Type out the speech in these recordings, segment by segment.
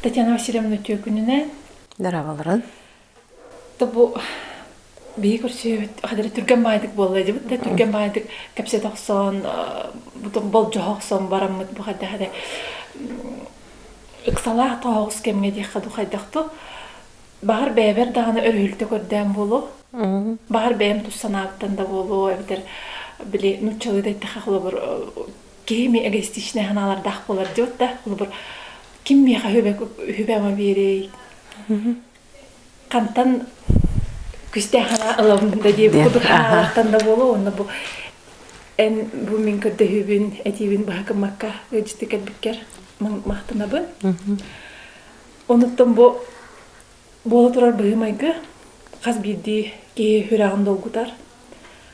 Татьяна Васильевна түөкүнүнэн. Дарабаларын. Тобу биһи көрсүбүт хадары түргэн баайдык буолла дебит да түргэн баайдык кэпсет охсон бутун болжо охсон бараммыт бу хадда хаде ыксалаах тоһоҕус кэмге диэххэ ду хайдахту Баҕар бэйэбэр даҕаны өрүһүлтэ көрдөөн буолуо. Баҕар бэйэм тус санаабыттан да буолуо эбэтэр били нууччалыы да эттэххэ холобур киһи эмиэ эгоистичнай санаалардаах буолар диот да холобур ким миэхэ үһүбэ үһүбэ ама биэрэй хантан күстээх санаа ылабын да дии курдук санаалартан да буолуо уонна бу эн бу мин көрдөһүүбүн этиибин баһа гыммакка ыалдьыты кэлбиккэр махтанабын Онуттан бу буола турар быһыы-майгы хас биирдии киһи үрэҕин долгутар.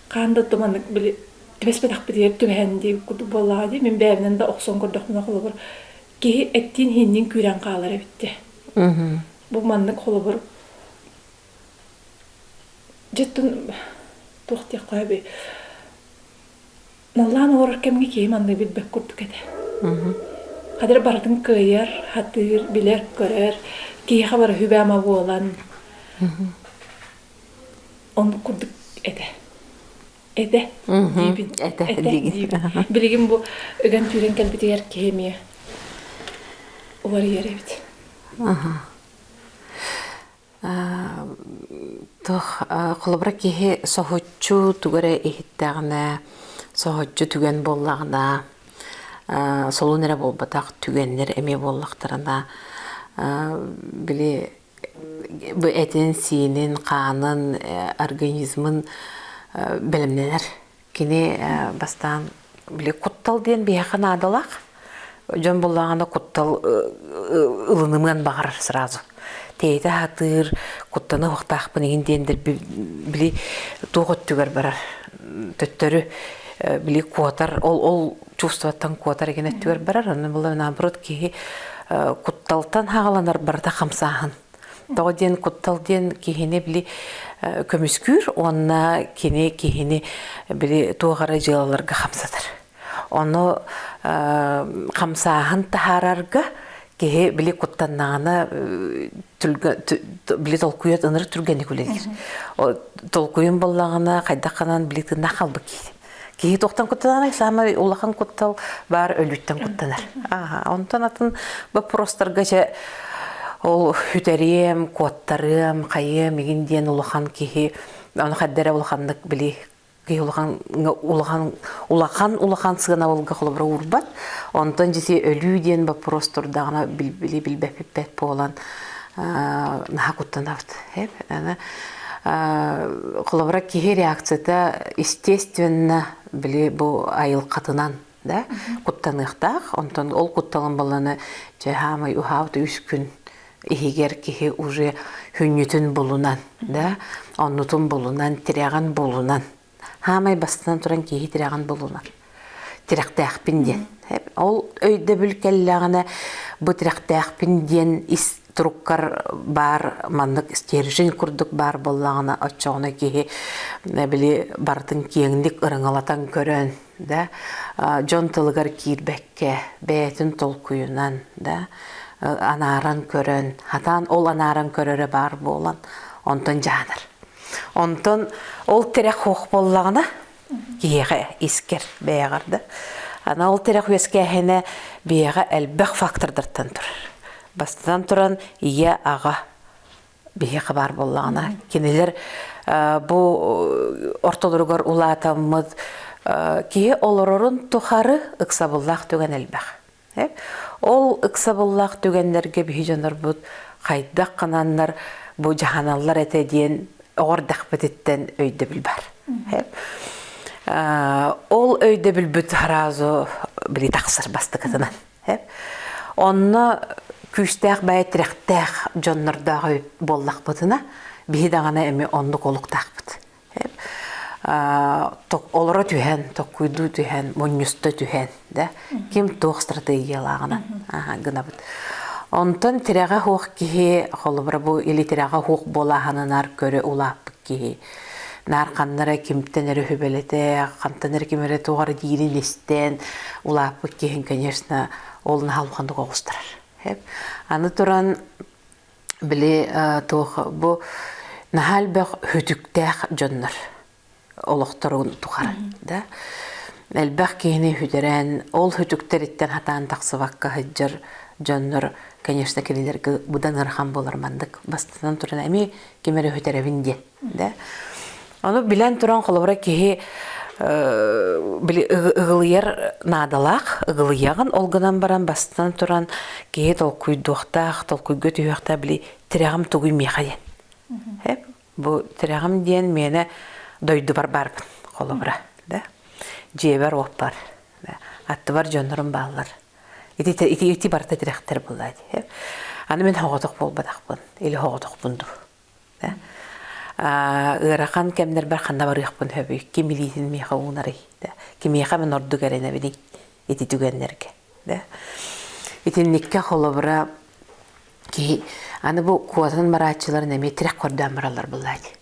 Хаан да отту маннык били түбэспэтэхпитигэр түбэһэн дии курдук буоллаҕа дии. Мин бэйэбинэн да охсон көрдөхпүнэ холобур киһи эттиин-иһиинниин күүрэн хаалар эбит дии. Мм. Бу маннык холобур Дьиттэн туох диэххэ сөбүй наллаан олорор кэмҥэ киһи манна билбэт курдук этэ Хадыр барытын кыайар, сатыыр, билэр, көрөр, киһиэхэ бары сүбэама буолан оннук курдук этэ этэ диибин этэ диибин билигин бу ыган түүрэн кэлбитигэр киһи эмиэ уларыйар эбит Холобура киһи соһуччу тугу эрэ иһиттэҕинэ, соһуччу түгэн буоллаҕына, солун эрэ буолбатах түгэннэр эмиэ буоллахтарына, били бу этин-сиинин, хаанын, организмын бэлэмнэнэр. Кини бастаан били куттал диэн биһиэхэ наадалаах. Дьон буллаҕына куттал ылынымыан баҕарар сразу. Тиэйитэ сатыыр, куттана уһуктаахпын иһин диэндэр били туох өттүгэр барар төттөрү били куотар ол ол чувствоттан куотар иген өттүгэр барар аны булар наоборот киһи кутталтан хагаланар барыта хамсааһын Тоҕо диэн куттал диэн киһини били көмүскүүр уонна кини киһини били туох эрэ дьыалаларга хамсатар. Ону хамсааһын таһаарарга киһи били куттаннаҕына били толкуйат ынырык түргэнник үлэлиир. Толкуйун буллаҕына хайдах гынан били тыыннаах хаалбыт киһи. Киһи тохтон куттанар, самый улахан куттал баар өлүттэн куттанар. Ага, онтон атын боппуростарга чэ ол үтэрием, куоттарыам, хайыам игин диэн улахан киһи аны хаддара улаханнык били киһи улахан улахан улахан улахан сыанабылга холобура урбат онтон дьити өлүү диэн боппуруос турдаҕына били билбэппэт буолан наха куттанабыт холобура киһи реакцията естественно били бу айылкатынан да куттаныахтаах онтон ол кутталын баланы чехамай ухаут үс күн иһигэр киһи уже хүнньүтүн булунан да оннутун булунан тирэҕин булунан Аамай бастатан туран киһи тирэҕин булунар. Тирэхтээхпин диэн. Ол өйдөбүл кэллэҕинэ бу тирэхтээхпин диэн ис туруккар баар маннык стержень курдук баар буоллаҕына оччоҕуна киһи били барытын киэҥник ырыҥалатан көрөн да дьон тылыгар киирбэккэ бэйэтин толкуйунан да анааран көрөн хатаан ол анааран көрөрө баар буолан онтон дьаанар онтон ол тирэх хуох буоллаҕына киһиэхэ искэр бэйэҕэр да ана ол тирэх үөскээһинэ бэйэҕэ элбэх фактордартан турар бастатан туран ийэ аҕа биһиэхэ баар буоллаҕына кинилэр бу ортолоругар улаатаммыт киһи олорорун тухары ыксабыллаах түгэн элбэх. Ол ыксабыллаах түгэннэргэ биһи дьонорбут хайдах кананнар бу дьаһаналлар этэ диэн оҕордахпытыттан өйдөбүл бар. Ол өйдөбүлбүт сразу били тахсар бастыкытынан. Онно күүстээх бэйэ тирэхтээх дьоннордоох буоллахпытына, биһи даҕаны эми оннук олуктаахпыт. Олоро түһэн, токкуйдуу түһэн, мунньуста түһэн, да, ким туох стратегиялааҕынан гынабыт. Онтон тирэҕэ суох киһи, холобура бу или тирэҕэ суох буолааһынынар көрө улааппыт киһи наркомнара кимтэн эрэ хүбэлэтэ, хантан эрэ ким эрэ тугара диирин истэн улааппыт киһин, конечно, ол наһалҕаннык оҕустарар. Аны туран били туох бу наһаа элбэх хүтүктээх дьоннор олохторун тухары да элбэх киһини хүтэрэн ол хүтүктэриттэн хатаан тахсыбакка сылдьар дьоннор конечно кинилэргэ быдан ырахан болор маннык бастатан туран эми ким эрэ үһүтэрэбин диэн. Да? Ону билэн туран холобура киһи ыгылыйар наадалаах ыгылыйаҕын ол гынан баран бастан туран киһи толкуйдуохтаах толкуйга түһүөхтээх били тирэҕим тугуй миэхэ диэн бу тирэҕим диэн миэнэ дойдубар барбын холобура да дьиэбэр уоппар да аттыбар дьоннорум бааллар Ити ити ити барыта тирэхтэр былаат. Аны мин хоҕотох буолбатахпын, или хоҕотохпун дуу. Ыарахан кэмнэрбэр ханна барыахпын сөбүй? Ким илиитин миэхэ уунарый? Кимиэхэ мен ордук эрэнэбиний ити түгэннэргэ? Итинникке холобура киһи аны бу куотан барааччыларын эмиэ тирэх көрдөөн бараллар былаат.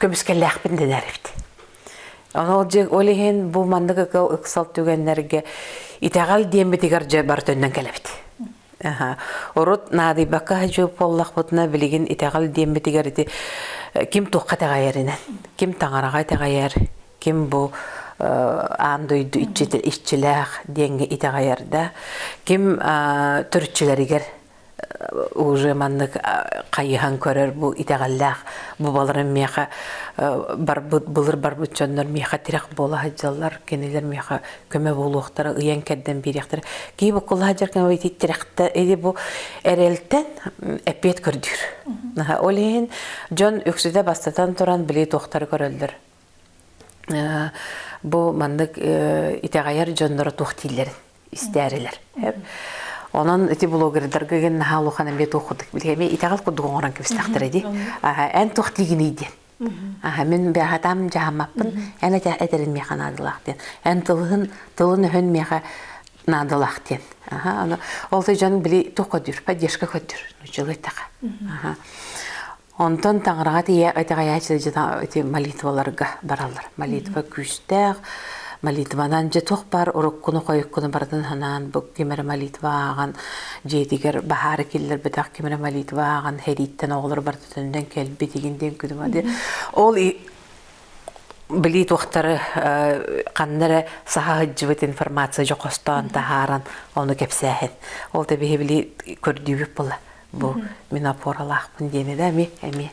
көмүскэллээхпин дэнэр эбит. Ол дьик ол иһин бу маннык ыкыл ыксал түгэннэргэ итэҕэл диэмбитигэр дьэ бар төннөн кэлэбит. Орут наадыйбакка хадьып боллахпытына билигин итэҕэл диэмбитигэр ити э, ким туохха тэҕэйэринэн, ким таҥараҕа тэҕэйэр, ким бу э, аан дойду иччилээх диэҥҥэ итэҕэйэр да, ким э, түрчүлэригэр уже маннык хайыһан көрөр бу итэҕэллээх бубаларын миэхэ барбыт былыр барбыт дьоннор миэхэ тирэх буола сылдьаллар кинилэр миэхэ көмө буолуохтара ыйан кэрдэн биэриэхтэрэ кии буккулла сылдьар кэмэ ити тирэхтэ или бу эрэлтэн эппиэт көрдүүр ол иһин дьон үксүтэ бастатан туран били туохтары көрөллөр бу маннык итэҕэйэр дьонноро туох дииллэрин истээрилер. Онон ити блогердарга ген наха улухан эмбе туох кудук билеме итэҕэл кудук оҥорон кэбистахтара ди. Эн туох тигиний диэн. Аха мен бяхатам жахамаппын эн этерин меха надылах диэн. Эн тылын тылын өһөн меха надылах диэн. Аха аны ол дьон били туох көдүр, поддержка көдүр. Нучылы таха. Аха. Онтон таҥараҕа тиийэ итэҕэйээччи дьиэ молитваларга бараллар. Молитва күүстээх. Молитванан дьэ туох баар уруккуну-хойуккуну барытын санаан бу ким эрэ молитва ааҕан дьиэтигэр баһаары киллэрбэтэх ким эрэ молитва ааҕан сэрииттэн оҕолор барытынан кэлбит игин диэн күтүмэ ол били туохтары ханна эрэ саха сыһыддьыбыт информация дьохостоон таһааран ону кэпсээһин ол да биһи били көрдүүбүт була бу мин опоралаахпын диэбэ да эми эми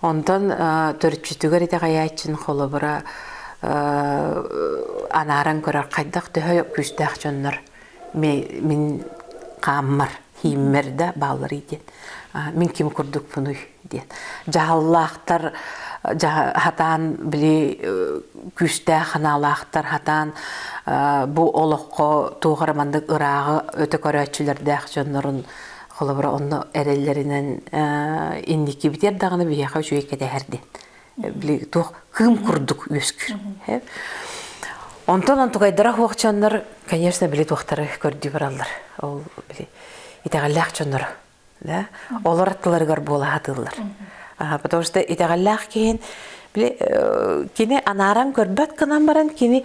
онтон төрүччүтүгэр итэҕэйээччин холобура анааран көрөр хайдах төһө күүстээх дьоннор мин хааммар, хийммэр да баалларый диэн мин ким курдукпунуй диэн. Дьаһаллаахтар хатаан били күүстээх ханаалаахтар хатаан бу олоххо туох эрэ маннык ырааҕы өтө көрөөччүлэрдээх дьоннорун холобура онно эрэллэринэн инники битэр даҕаны биһиэхэ үчүгэй кэтэһэр диэн били туох кыым курдук үөскүүр онтон антугайдара хуохчаннар конечно били туохтары көрдүү бараллар ол били итэҕэллээх дьонноро да олор аттыларыгар буола сатыыллар потому что итэҕэллээх киһин били кини анааран көрбөт гынан баран кини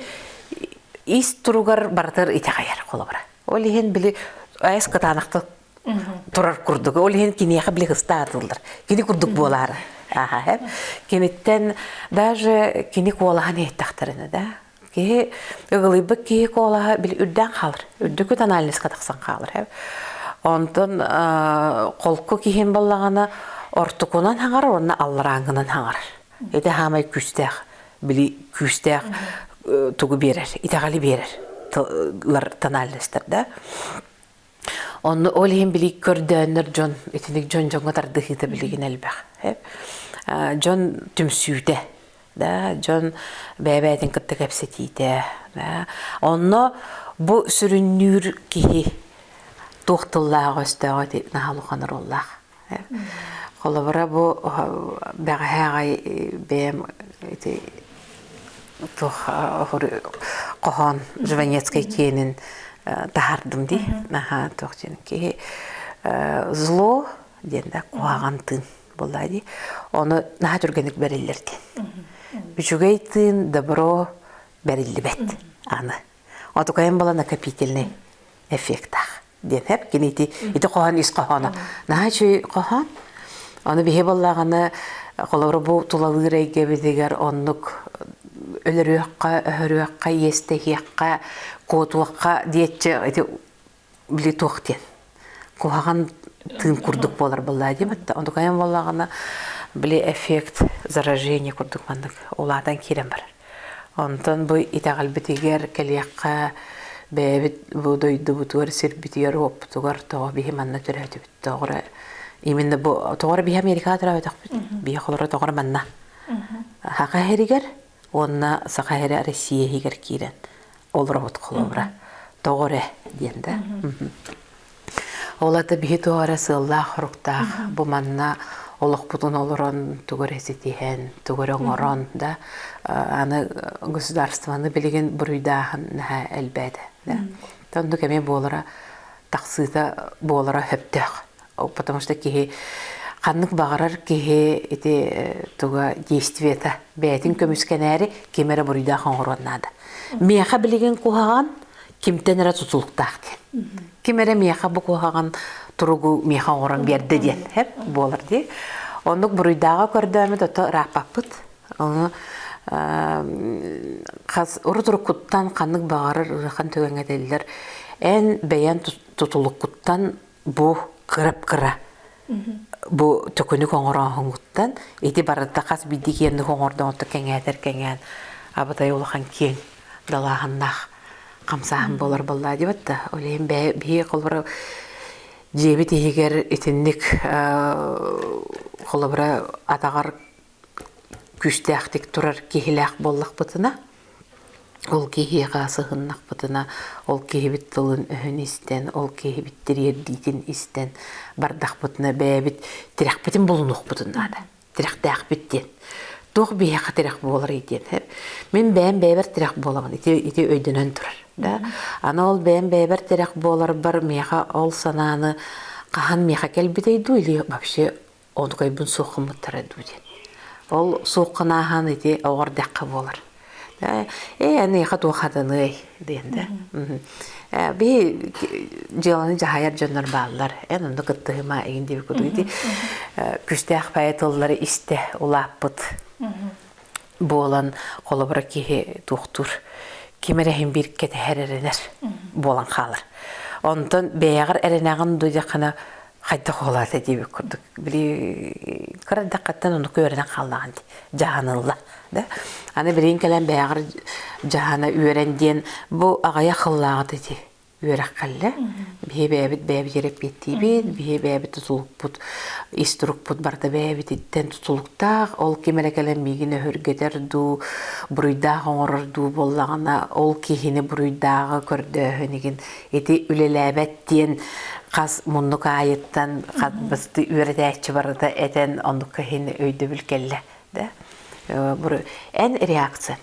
ис туругар барытыгар итэҕэйэр холобура ол иһин били айыс кытаанахта турар курдук ол иһин киниэхэ били ыстаатыллар кини курдук буолаары аха кимиттэн даже кини куолаһын иһиттэхтэринэ да Киһи ыгылыйбыт киһи куолаһа били үрдээн хаалар. Үрдүкүт анализка тахсан хаалар. Онтон холку киһим баллаҕана ортокунан хаҥар уонна алларааҥҥынан хаҥар. Ити хаамай күүстээх. Били күүстээх тугу биэрэр, итэҕэли биэрэр тональностар да. Онно ол иһин били көрдөөннөр дьон итиник дьон дьоҥҥо тардыһыыта билигин элбэх. Дьон түмсүүтэ, да дьон бэйэ-бэйэтин кытта кэпсэтиитэ, да онно бу сүрүннүүр киһи туох тыллаах өстөөҕө ити наһаа улахан оруоллаах. Холобура бу бэҕэһээ аҕай бэйэм ити туох хоһоон Жванецкай киэнин таһардым дии. Наһаа туох диэн киһи зло диэн да куһаҕан тыын буолла дии. Ону наһаа түргэнник бэриллэр диэн. Үчүгэй тыын добро бэриллибэт аны. Отукайым была накопительный эффектаах. диэпэп кини ити ити хоһоон ис хоһооно наһаа үчүгэй хоһоон аны биһи быллаҕаны холобура бу тулалыыр эйгэбитигэр оннук өлөрүөххэ өһөрүөххэ иэстэһиэххэ куотуохха диэччи ити били туох диэн куһаҕан тыын курдук буолар быллаа диэбитте онтукайан боллагына били эффект заражение курдук маннык улаатан киирэн барар Онтон бу итэҕэлбитигэр кэлиэххэ бэйэбит бу дойдубутугар, сирбитигэр-уоппутугар тоҕо биһи манна төрөөтүбүт, тоҕо именно бу тоҕо биһи Америкаҕа төрөөтөхпүт, биһи холоро тоҕо манна. Саха иһигэр уонна Саха иһэ Россия иһигэр киирэн олоробут холобура тоҕо эрэ диэн да ол ата биһи туох эрэ сыаллаах-хоруктаах бу манна олохпутун олорон тугу эрэ ситиһэн тугу эрэ оҥорон да аны государствоны билигин буруйдааһын наһаа элбээтэ да оннук эмиэ буолара тахсыыта буолара сөптөөх потому что киһи ханнык баҕарар киһи ити туга действиета бээтин көмүскэнээри ким эрэ буруйдаах оҥоруон наада миэхэ билигин куһаҕан кимтэн эрэ тутулуктаах диэн ким эрэ миэхэ бу куһаҕан туругу миэхэ оҥорон биэрдэ диэн буолар дии оннук буруйдааҕа көрдөөмүт ото ырааппаппыт ону хас урут-уруккуттан ханнык баҕарар ыарахан түгэҥҥэ дэллэр эн бэйэн тутулуккуттан бу кырап-кыра бу төкүнүк оҥорооһуҥҥуттан ити барыта хас биирдии киэнник оҥордоҕунта кэҥээтэр-кэҥээн абытай улахан киэҥ далааһыннаах хамсааһын буолар буоллаа диэбит да ойлейн бэйэ биһиги холобура дьиэбит иһигэр итинник холобура атаҕар күүстээхтик турар киһилээх буоллахпытына, ол киһиэхэ сыһыннахпытына, ол киһибит тылын-өһүн истэн, ол киһибит тириэрдиитин истэн бардахпытына бэйэбит тирэхпитин булунуохпутун наада. Тирэхтээхпит диэн. Туох биһиэхэ тирэх буоларый диэн. Мин бэйэм бэйэбэр тирэх буоламын ити ити өйдөнөн турар. Да. Аны ол бэйэм бэйэбэр тирэх буоларбар миэхэ ол санааны хаһан миэхэ кэлбитэй дуу или вообще оонукайбын суох гыммыттара дуу диэн. Ол суох канааһан ити оҕор дэххэ буолар. Ээ эныха туох хатаныай диэн да. Би дьыаланы дьаһайар дьоннор бааллар. Эн онно кыттыһыма эгин диэбиккут. Ити Күстээх пае тыллары истэ улааппыт. буолан холобура киһи туохтуур ким эрэ иһин биир кэтэһэр эрэнэр буолан хаалар. Онтон бэйэҕэр эрэнэҕин дудьахына хайдах улаата диэбит курдук. Били кырандаххаттан ону күөрэнэн хааллаҕын дии. Дьаһанылла. Да? Аны билин кэлэн бэйэҕэр дьаһана үөрэн диэн бу аҕайа хыллааҕыта дии. үөрэххэллэ. Биһи бэйэбит бэйэбитигэр эппиэттиибит, биһи бэйэбит тутулукпут, ис турукпут барыта бэйэбититтэн тутулуктаах. Ол ким эрэ кэлэн миигин өһүргэтэр дуу, буруйдаах оҥорор дуу буоллаҕына, ол киһини буруйдааҕы көрдөөһүн игин ити үлэлээбэт диэн хас муннук аайыттан хас басты үөрэтээччи барыта этэн оннукка иһин өйдөбүл кэллэ. Да? Эн реакция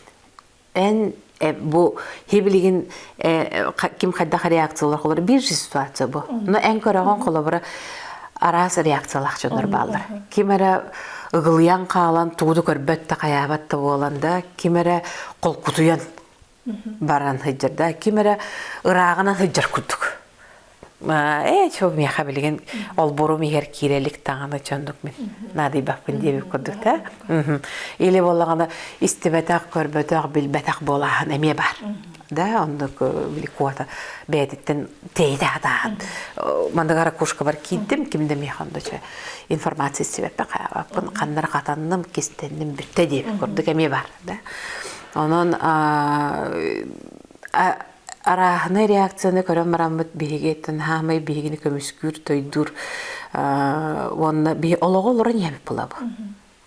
Эн бу хиблигин ким хайдах реакциялар холор бир ситуация бу. Но эн көрөҕөн холобура араас реакциялах чоннор бааллар. Ким эрэ ыгылыйан хаалан тууду көрбөт да хаyaабат да буолан да ким эрэ холкутуйан баран хыйдырда ким эрэ ыраагынан хыйдыр курдук Ээ, чол миэхэ билигин олбурум иһэр киирэ илик даҕаны чондук мин наадыйбаппын диэбит курдук да. Или буоллаҕына истибэтэх, көрбөтөх, билбэтэх буолааһын эмиэ бар. Да, оннук били куота бэйэтиттэн тейдэ атаан. Мандыга ракушкабар киирдим, ким да миэхэ онда чө информация истибэппэ хааппын, ханнар хатанным, кистенним бүтте диэбит курдук эмиэ бар, да. Онон арааһынай реакцияны көрөн бараммыт биһигиттэн хаамай биһигини көмүскүүр, тойдуур уонна биһи олоҕу олорон ийэбит булабы.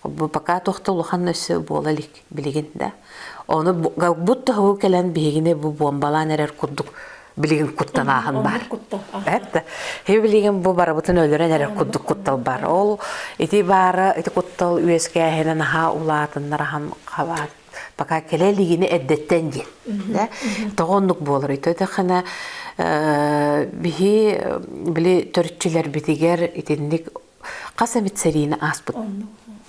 Бу пока тохта улахан өссө буола илик билигин да. Оны бут тоху келен биһигини бу бомбалаан эрэр курдук билигин куттан ааһын бар. Эт. Хи билигин бу барыбытын өлөрөн эрэр курдук куттал бар. Ол ити бары ити куттал үөскээһинен аха улаатыннар ахан хабаат. пока кэлэ илигине эрдэттэн диэн да тоҕо оннук буолар ититэххинэ биһи били төрүччүлэрбитигэр итинник хас эмит сэриини ааспыт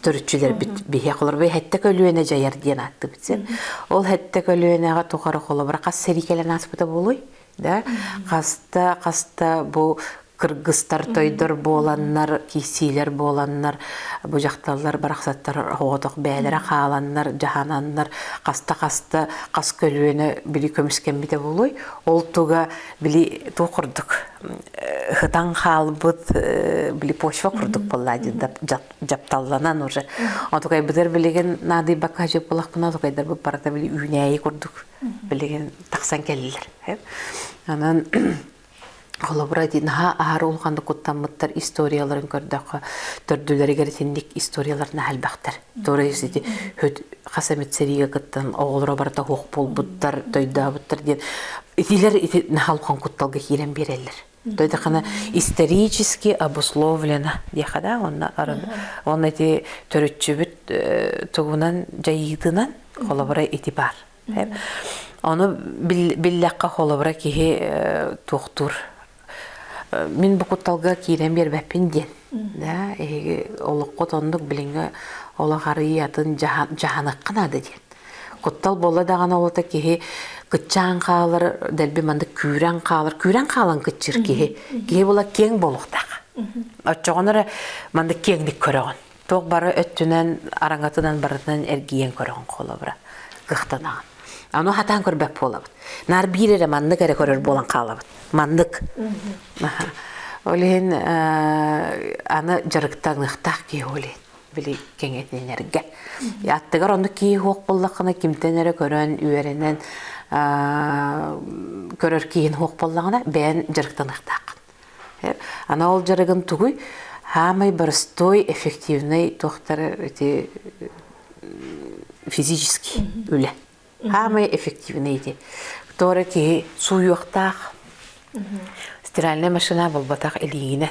төрүччүлэрбит биһиэхолор бу хэттэ көлүөнэ дьайар диэн ааттыбыт син ол хэттэ көлүөнэҕэ тухары холобура хас сэрии кэлэн ааспыта буолуй да хаста хаста бу кыргыстар тойдор буоланнар киссиилэр буоланнар бу дьахталлар барахсаттар оҕотох бээлэрэ хааланнар дьаһананнар хаста хаста хас көлүөнэ били көмүскэммитэ булуй ол туга били ту курдук хытан хаалбыт били почва курдук болла жапталланан уже отукай бытыр билигин наадыйбакка хажып булахпына отукайдар бу барата били үүнээйи курдук билигин тахсан кэллилэр. Онон холобура ди наһаа аар улаханнык куттаммыттар историяларын көрдөххө төрдүлэригэр итинник историялар наһальбахтар туора ити хүт хас эмит сериге кыттан оҕолоро барыта хуох буолбуттар тойдообуттар диэн итилэр ити наһал кутталга киирэн биэрэллэр то это исторически обусловлено диэхэ да онно он эти төрүччүбүт тугунан дьайыытынан холобура ити бар ону биллэххэ холобура киһи туохтуур мин букутталга киирэн биэрбэппин диэн да эһиги олоххут оннук билиҥҥэ олох арыйы атын дьаһаныхха наада диэн Куттал буолла даҕаны олото киһи кыччаан хаалар, дэлби маннык күүрэн хаалар. Күүрэн хаалан кыччыр киһи. Киһи була киэҥ буолуохтаах. Оччоҕун эрэ маннык киэҥник көрөҕүн. Туох бары өттүнэн, араҥатынан барытынан эргийэн көрөҕүн холобура. Кыахтанаҕын. Аны хатаан көрбөт буолабыт. Наар биир эрэ маннык эрэ көрөр буолан хаалабыт. Маннык. Ол иһин аны дьарыктаныахтаах киһи ол иһин. били кэҥэтинэргэ. Аттыгар ону киһи-уох буллаххына кимтэн эрэ көрөн, үөрэнэн көрөр киһин уох буллаҕына бэйэн дьарыктаныахтааххын. Ана ол дьарыгын тугуй? Хаамай боростой эффективный туохтар эти физический үлэ. Хаамай эффективный ити. Тоора киһи сууйуохтаах. Стиральная машина болбатах илиигинэн.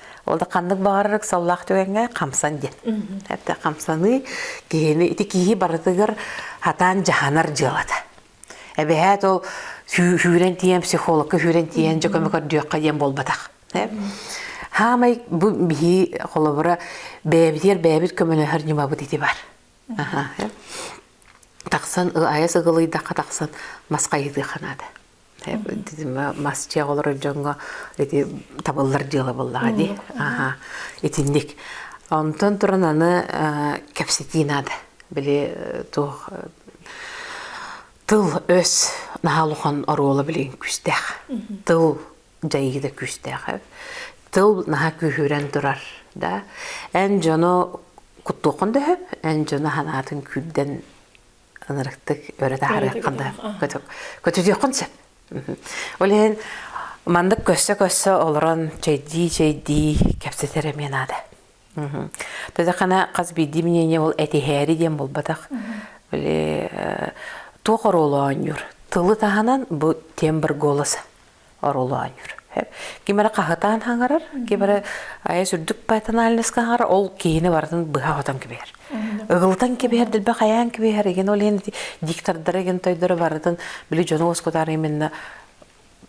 Ол да ханнык баҕарар ыксаллаах түгэҥҥэ хамсан диэн. Это хамсаныы киһини ити киһи барытыгар хатаан дьаһанар дьыалата. Эбэһээт ол сүүрэн тиийэн психологка сүүрэн тиийэн дьэ көмө көрдүөххэ диэн буолбатах. Хаамай бу биһи холобура бэйэбитигэр бэйэбит көмөлөһөр ньымабыт ити бар. Тахсан айас ыгылыйдахха тахсан мас хайытыаха наада. мас чиэк олорор дьоҥҥо ити табыллар дьыала буоллаҕа дии. Аха. Итинник. Онтон туран аны кэпсэтии наада. Били туох тыл өс наһаа улахан оруола билин күүстээх. Тыл дьайыы да күүстээх. Тыл наһаа күүһүрэн турар да. Эн дьону куттуоххун дөһөп, эн дьону ханаатын күүрдэн ынырыктык өрө таһарыаххын да көтүдүөххүн сөп. Ол иһин маннык көссө-көссө олорон чэйдии-чэйдии кэпсэтэр эмиэ наада. Төтэххэне хас биирдии мнение ол этиһээри диэн буолбатах. Э, туох оруолу оонньуур? Тылы таһынан бу тем бар голос. орулоонньур. Ким эрэ хаһытаан хаҥарар, ким эрэ айас үрдүк патенальноска хаҥарар, ол киһини барытын быһа хотон кэбиһэр. Ыгылытан кэбиһэр, дилбэ хайаан кэбиһэр, игин ол иһин диктордары игин тойдору барытын били дьону оскутар именно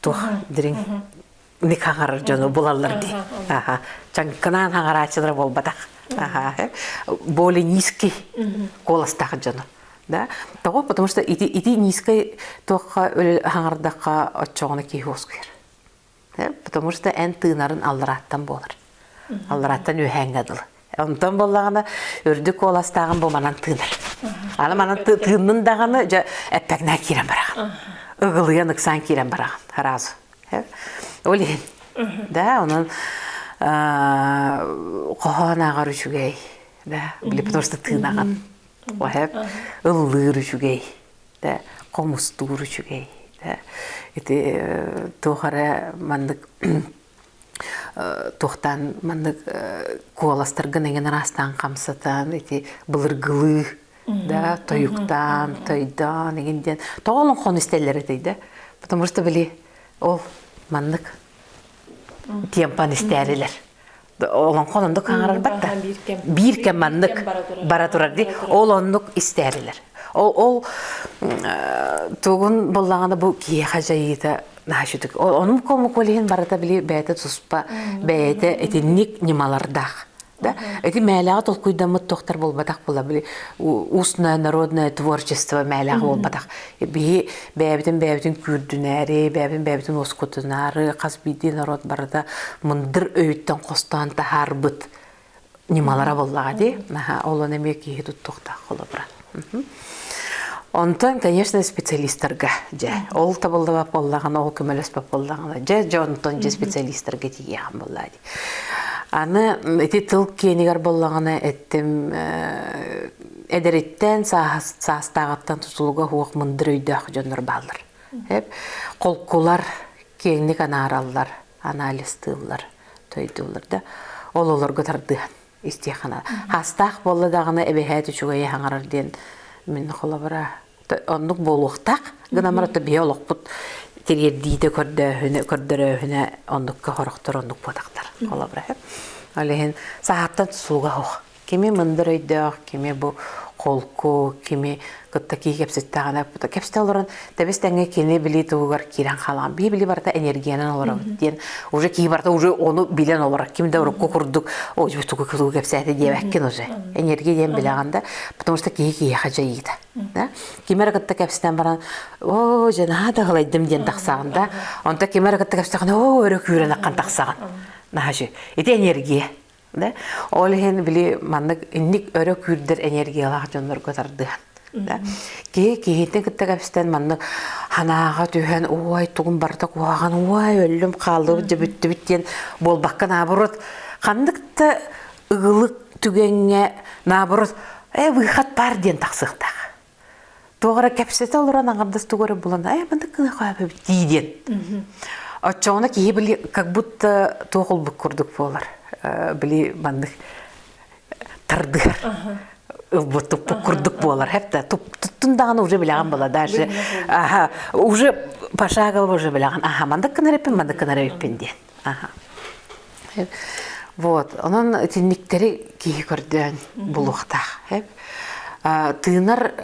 тух дириҥ ник хаҥарар дьону булаллар дии. Аха. Чаҥкынаан хаҥарааччылара буолбатах. Аха. Более низкий голостах дьону. да тоҕо потому что ити ити низкой туохха хаҥардахха оччоҕуна киһи уоскуйар потому что эн тыынарын алларааттан буолар алларааттан үөһээҥҥэ дылы онтон буоллаҕына үрдүк куоластааҕын бу манан тыынар аны манан тыыннын даҕаны дьэ эппэкнээн киирэн бараҕын ыгылыйан ыксаан киирэн бараҕын разу ол иһин да онон хоһоон ааҕар үчүгэй да били потому что тыынаҕын Оһөп ыллыыр үчүгэй, да хомустуур үчүгэй, да ити туох эрэ маннык туохтаан маннык куоластаргын эҥин араастаан хамсатан ити былыргылыы да тойуктаан тойдоон эҥин диэн тоҕо олоҥхону истэллэр этэй да потому что били ол маннык тиэмпан истээрилэр олоҥхо оннук хаҥарарбат да биир кэм маннык бара турар дии ол оннук истээбилэр ол ол тугун буллаҕына бу киһиэхэ дьайыыта наачытык онум комуколиһин барыта били бэйэтэ туспа бэйэтэ итинник ньымалардаах да ити мээлэҕэ толкуйдаммыт тохтор буолбатах була били устное народное творчество мээлэҕэ буолбатах Биһи бэйэбитин бэйэбитин күүрдүнээри, бэйэбитин бэйэбитин уоскутунаары хас биирдии норуот барыта мындыр өйүттэн хостоон таһаарбыт ньымалара буоллаҕа дии. Ол он эмиэ киһи туттуохтаах холобура. Онтон, конечно, специалистарга дьэ ол табыллыбат боллаҕына, ол көмөлөспөт боллаҕына, дьэ дьэ онтон дьэ специалистарга тиийиэҕин боллаа дии. Аны ити тыл киэнигэр боллаҕына эттим эдэриттэн саастааҕыттан тутулуга уох мындыр өйдөөх дьоннор бааллар холкулар киэҥник анаараллар анализтыыллар тойдууллар да ололорго тардыһан истиэхана хаастаах буолла даҕаны эбэһээт үчүгэйи хаҥарар диэн мин холобура оннук буолуохтаах гынамара то биһи олохпут тириэрдиитэ көрдөөһүнэ көрдөрөөһүнэ оннукка хорохтор оннук буотахтар холобура ол иһин саһааттан сууга ох кими мындыр өйдөөх, кими бу холку, кими кытта кии кэпсэттэҕинэ кэпсэтэ олорон тэбис тэҥҥэ кини билии туһугар киирэн хаалаҕын бии-били барыта энергиянан олоробут диэн уже кии барыта уже ону билэн олорор ким да урукку курдук ой тугу кылуу кэпсээтэ диэбэккин уже энергия диэн билэҕин да потому что киһи киһиэхэ дьайыыта да ким эрэ кытта кэпсэтэн баран оо дьэ наһаа таһылайдым диэн тахсаҕын да онто ким эрэ кытта кэпсэтэҕинэ оо өрө күүрэн аққан тахсаҕын наһаа ити энергия да ол иһин били маннык инник өрө күүрдэр энергиялаах дьоннорго тардыһан да киһи киһитин кытта кэпстэн маннык санааҕа түһэн уой тугум барыта куһаҕан уой өллүм хааллыбыт дьэ бүттүбүт диэн буолбакка наоборот ханнык да ыгылык түгэҥҥэ наоборот э выход бар диэн тахсыахтаах Туох эрэ кэпсэтэ олорон аҥардас тугу эрэ булан «Ай, маннык гына хаапыбыт» дии диэн. Оччоҕуна киһи били как будто туох булбут курдук буолар. Били маннык тардыгар ылбыт курдук буолар. Хепта туттун даҕаны уже билэҕин была даже уже пошагово уже билэҕин аха мандык гына эппин мандык гына эппин диэн. Аха. Вот. Онон итинниктэри киһи көрдөөн булуохтаах. Тыынар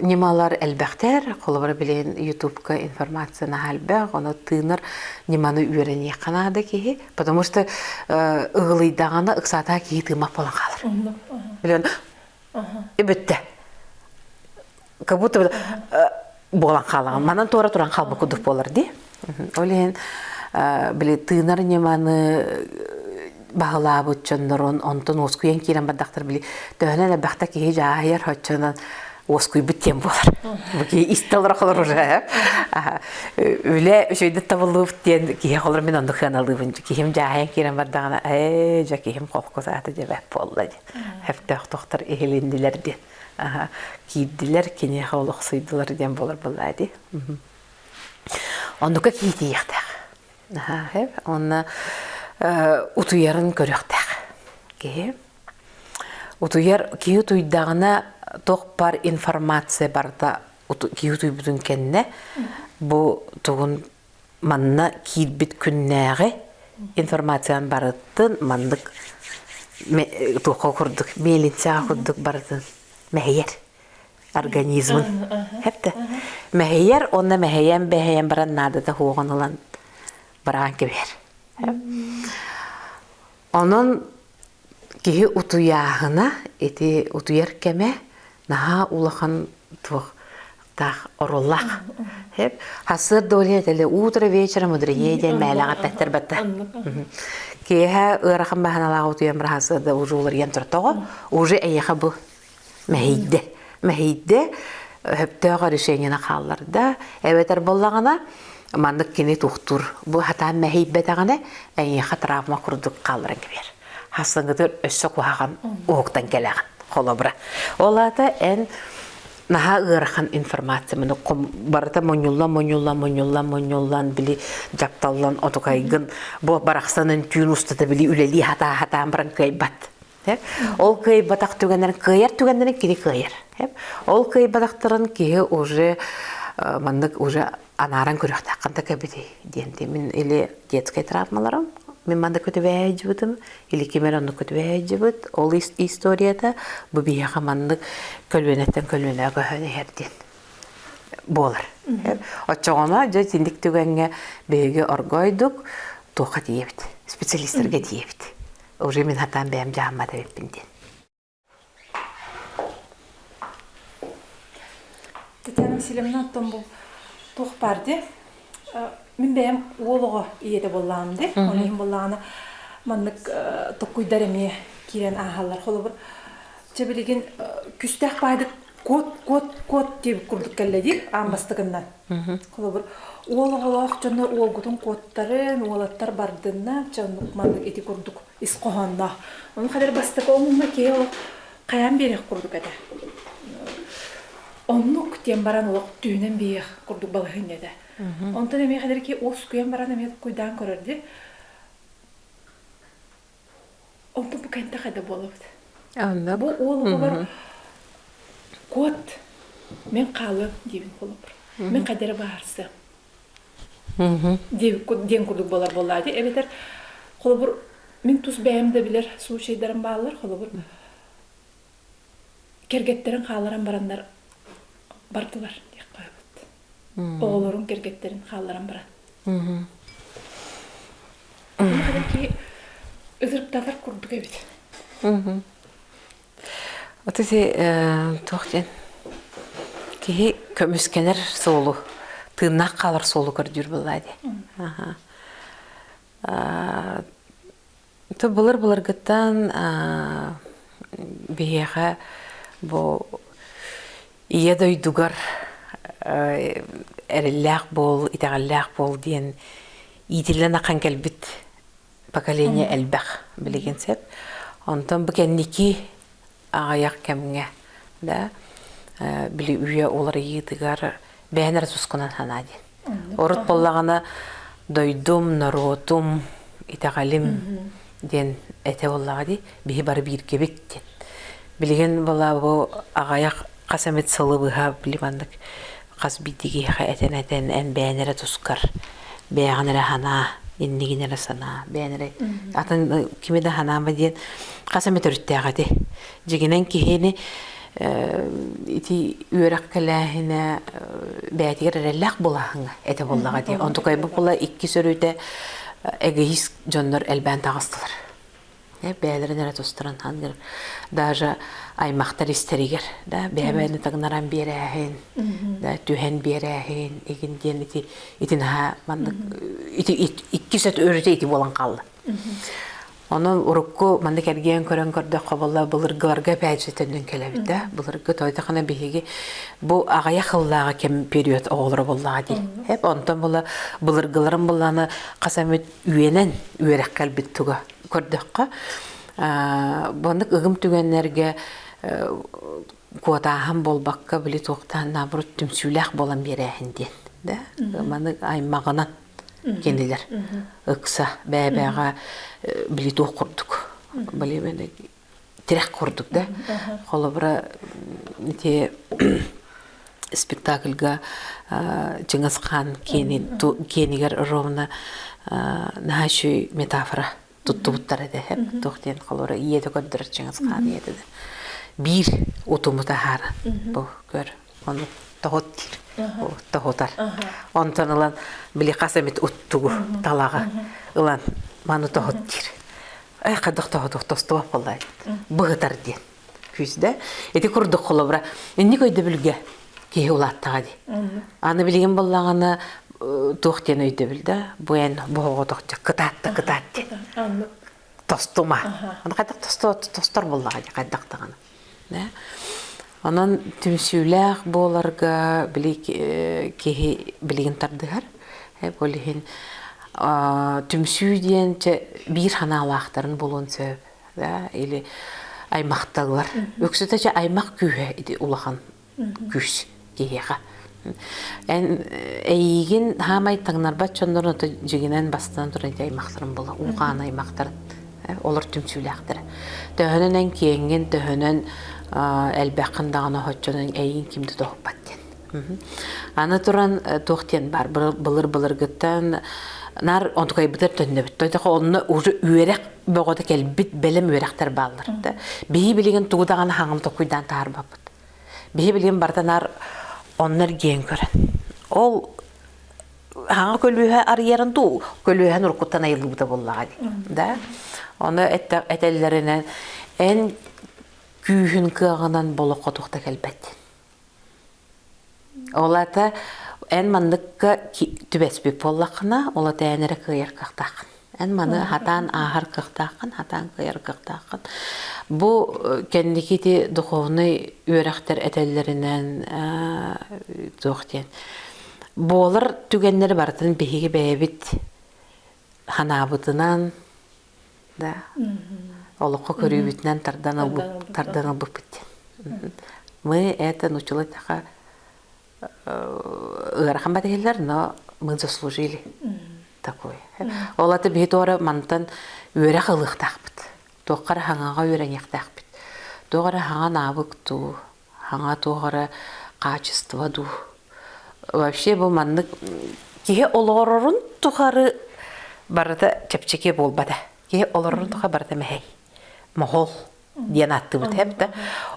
ньымалар элбэхтэр. Холобура билин ютубка информация наһаа элбэх. Ону тыынар ньыманы үөрэниэххэ наада киһи. Потому что ыгылыйдаҕына ыксаатаа киһи тыымах буолан хаалар. Билэн бүттэ. как будто бы буолан хаалаҕын манан туора туран хаалбыт курдук буолар дии ол иһин били тыынар ньыманы баһылаабыт дьоннорун онтон уоскуйан киирэн бардахтар били төһөнөн элбэхтэ киһи дьааһыйар оччонон уоскуйбут киэн буолар бу киһи истэ олоро холор уже үлэ үчөйдөт табыллыбыт диэн киһи холор мин онну кыаналыыбын киһим дьааһыйан киирэн бардаҕына ээ дьэ киһим холку саата дьэбэт буолла диэн хефтөөх тохтор иһилиннилэр диэн аха киирдилэр киниэхэ олохсуйдулар диэн буолар буоллаа дии оннука киитийиэхтээх аха онно утуйарын көрүөхтээх киһи утуйар киһи утуйдаҕына туох бар информация барыта киһи утуйбутун кэннэ бу тугун манна киирбит күннээҕи информацияны барытын маннык туохха курдук миэлинсэҕэ курдук барытын мэһийэр организмын хэпте мэһийэр онно мэһийэн бэһийэн баран наадата хуоҕун ылан быраан кэбиһэр онон Киһи утуйааһына ити утуйар кэмэ наһаа улахан туохтаах орулах. Хэп Хасыарда олен этэлэ утро вечера мудреее диэн мээлэҕэ таттар батта. Киэһэ ыарахан баһаналаах утуйан бара Хасыарда уже уларыйан туртоҕо. Уже эйиэхэ бу мэһийдэ. Мэһийдэ, өһөптөөх решениены хаалларда. Эбэтэр буллаҕына, маннык кини тухтуур. Бу хатаан мэһийбэтэҕинэ, эйиэхэ травма курдук хаалларан кэбиэр. Хасынгытыр өссө куһаҕан уһуктан кэлэҕин, холобура. Ол аата эн наһаа ыарахан информация маны барыта мунньуллан мунньуллан мунньуллан мунньуллан били дьапталлан отукайгын бу барахсан үнтүүн устата били үлэлии хатаа хатаан баран кыайбат Ол кыайбатах түгэннэрин кыайар түгэннэрин кини кыайар. Ол кыайбатахтарын киһи уже маннык уже анааран көрүөхтээх ханта кэбитий диэн мин или детскай травмаларым мин манна көтүбээһэйдьибитим или кимер онну көтүбээһэйдьибит ол историята бу биһиэхэ маннык көлүөнэттэн көлүөнэҕэ көһөн иһэр диэн буолар. Оччоҕуна дьэ итинник түгэҥҥэ биһиги оргойдук туохха тиийэбит специалистырга тиийэбит. уже мин хатаан бэйэм дьааммат эбиппин диэн. Татьяна Васильевна оттон бұл туох бар де мин бэйэм уол оҕо ийэтэ боллаам де оны иһин боллаана маннык токкуйдар эмиэ киирэн ааһаллар холобур чэ билигин күстээх баайдык кот кот кот диэбит курдук кэллэ диир аан бастакыннан Холобур, уол оҕолоох дьоно уолгутун куоттарын, уолаттар бардынна, чэ оннук маннык ити курдук ис хоһоонноох. Ону хадары бастакы омуҥҥа киһи олох хайаан биэриэх курдук этэ. Оннук диэн баран олох түүнэн биэриэх курдук балаһынньа этэ. Онтон эмиэ хадары ки уоскуйан баран эмиэ куйдаан көрөрдө. Онту бу кэнтэх да буолабыт. Алла бу уолугабар кот мен хаалыам диэбин холобур. Мен кадере баарсыам. диэн курдук буолар буоллаа дии эбэтэр холобур мин тус бэйэм да билэр случайдарым бааллар холобур кэргэттэрин хааларан бараннар бардылар диэх хаалбыт оҕолорун кэргэттэрин хаалларан баран Махадан ки ызырыктанар курдук эбит. Отуси туохтен киһи көмүскэнер суолу тыыннаах хаалар суолу көрдүүр быллаа ди. Ito былыр-былыргыттан аа, биһиэхэ бу ийэ дойдугар э, эрэллээх буол, итэҕэллээх буол диэн иитиллэн ахан кэлбит поколение элбэх, билигин сеп. Онтон бу кэнники аҕыйах кэмҥэ да били үйэ уларыйыытыгар бэйэн эрэ сускунан санаа диэн. Орут буоллаҕына дойдум, норуотум, итэҕэлим диэн этэ буоллаҕа дии, биһи бары бииргэбит диэн. Билигин была бу аҕайах хас эмит сылы быһа били маннык хас биирдии этэн-этэн эн бэйэн эрэ тускар бэйэҕин эрэ санаа иннигин эрэ санаа бэйэн эрэ атын кими да санаама диэн хас эмэ төрүттээх этэ дьигинэн киһини ити үөрэх кэлээһинэ бэйэтигэр эрэллээх булаһыҥа этэ буоллаҕа дии онтукайбыт була иккис өрүтэ эгоист дьоннор элбээн таҕыстылар Э, бэйэлэрин эрэ тустаран аныгар даже аймахтар истэригэр да бэйэбэйэни тагынаран биэрээһин да түһэн биэрээһин игин диэн ити ити наһаа маннык ити иккис эт өрүтэ ити буолан хаалла Онон урукку маннык эргиэн көрөн көрдөххө болла былыргыларга эпээдьитэннин кэлэбит да былыргы тойдахана биһиги бу аҕыйах хыллааҕы кэм период оҕолоро буллаҕа дии эп онтон була былыргыларын буллана хаса мүт Үөнэн үөрэх кэлбит туга. Көрдөххө, боннук ыгым түгэннэргэ куотааһын болбакка били туохтаан наоборот түмсүүлээх болан биэрээһин диэн. Да маны аймағынан кенилер ыкса бәбәға били туох курдук. Били тирэх курдук да холобура ити спектакльга Чыңгыз Хаан киэнигэр ровно наһаа үчүгэй метафора туттубуттар этэ туох диэн холобура ийете көрдөрөр Чыңгыз Хаан ийете да биир утуму таһаара бу көр Оны тоһут диир. Тоһутар. Онтон ылан били хас эмит уттугу талаҕа ылан маны тоһут диир. Эх хайдах тоһутук тостубап боллай. Быһытар диэн. Күүсдэ. Ити курдук холобура. Инник өйдөбүлгэ киһи улааттаҕа дии. Аны билигин боллаҕана туох диэн өйдөбүл да бу эн бу оҕотохча кытаатта кытаат диэн. Тостума. Аны хайдах тостор боллаҕа хайдах даҕаны. Онон түмсүүлээх буоларга били киһи билигин тардыһар. Ол иһин түмсүү диэн биир санаалаахтарын булуон сөп. Или аймахталлар. Үксүтэ аймах күүһэ улахан Күс киһиэхэ. Эн эйиигин хаамай таҥнарбат дьоннорун ото дьигинэн бастан туран ити аймахтарын була улахан аймахтарын олор түмсүүлээхтэрэ. Төһөнөн эн киэҥҥин, төһөнөн элбэххин даҕаны оччонон эйиин кимди тоһуппат диэн. Аны туран туох диэн баар былыр-былыргыттан наар онтукайбытар төннөбүт. Тойдоҕо онно уже үөрэх бөҕөтө кэлбит бэлэм үөрэхтэр бааллар да. Биһи билигин тугу даҕаны хаҥам токуйдаан таһарбаппыт. Биһи билим барда наар онно эргиэн көрөн. Ол хаҥа көлүөһэ арыйарын дуу, көлүөһэ нуркуттан айыллыбыта буллаҕа дии. Да? Оны этэллэринэн эн күүһүн кыаҕынан болохо тухта кэлбэт. Ол ата эн манныкка түбэспит буоллаххына, ол ата эн эрэ кыайар кыахтааххын. Эн маны хатаан ааһар кыахтааххын, хатаан кыайар кыахтааххын. Бу кэнникити духовный үөрэхтэр этэллэринэн туох диэн буолар түгэннэри барытын биһиги бэйэбит санаабытынан да олоххо көрүүбүтүнэн тардан ылбыт тардан ылбыппыт диэн мы это научила така ыарахан батыһылар но мы заслужили такое ол аты биһи туора мантан үөрэх ылыахтаахпыт туоххара хаҥаҕа үөрэниэхтээхпит туохара хаҥан аабык дуу Аҥа туох эрэ хаачыстыба дуу. Вообще бу маннык киһи олорорун тухары барыта чэпчэки буолбата. Киһи олорорун тухары барыта мэһэй. Моһол диэн ааттыбыт хэп да.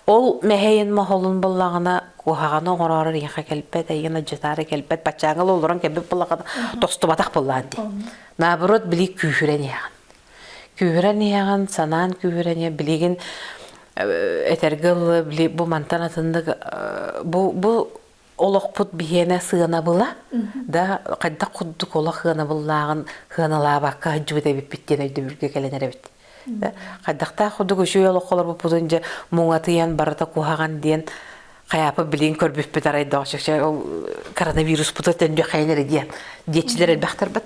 Ол мэһэйин моһолун буллаҕына куһаҕаны оҥороор эйиэхэ кэлбэт, эйигин адьытаары кэлбэт, баччааҥҥыл олорон кэлбит буллаҕына тостубатах буллаан дии. Наоборот, били күүһүрэн иһэҕин. Күүһүрэн иһэҕин, санаан күүһүрэниэ, билигин этэргэ ыллы бу мантан атыннык бу бу олохпут биһиэнэ сыанабыла да хайдах курдук олох сыанабыллааҕын сыаналаабакка сылдьыбыт эбиппит диэн өйдөбүлгэ кэлэн эрэбит хайдахтаах курдук үчүгэй олоххолор буппутун дьэ муҥатыйан барыта куһаҕан диэн хайаапа билигин көрбүппүт арайдоох чөкчө коронавируспуту төннү хайын эрэ диэн диэччилэр элбэхтэр бат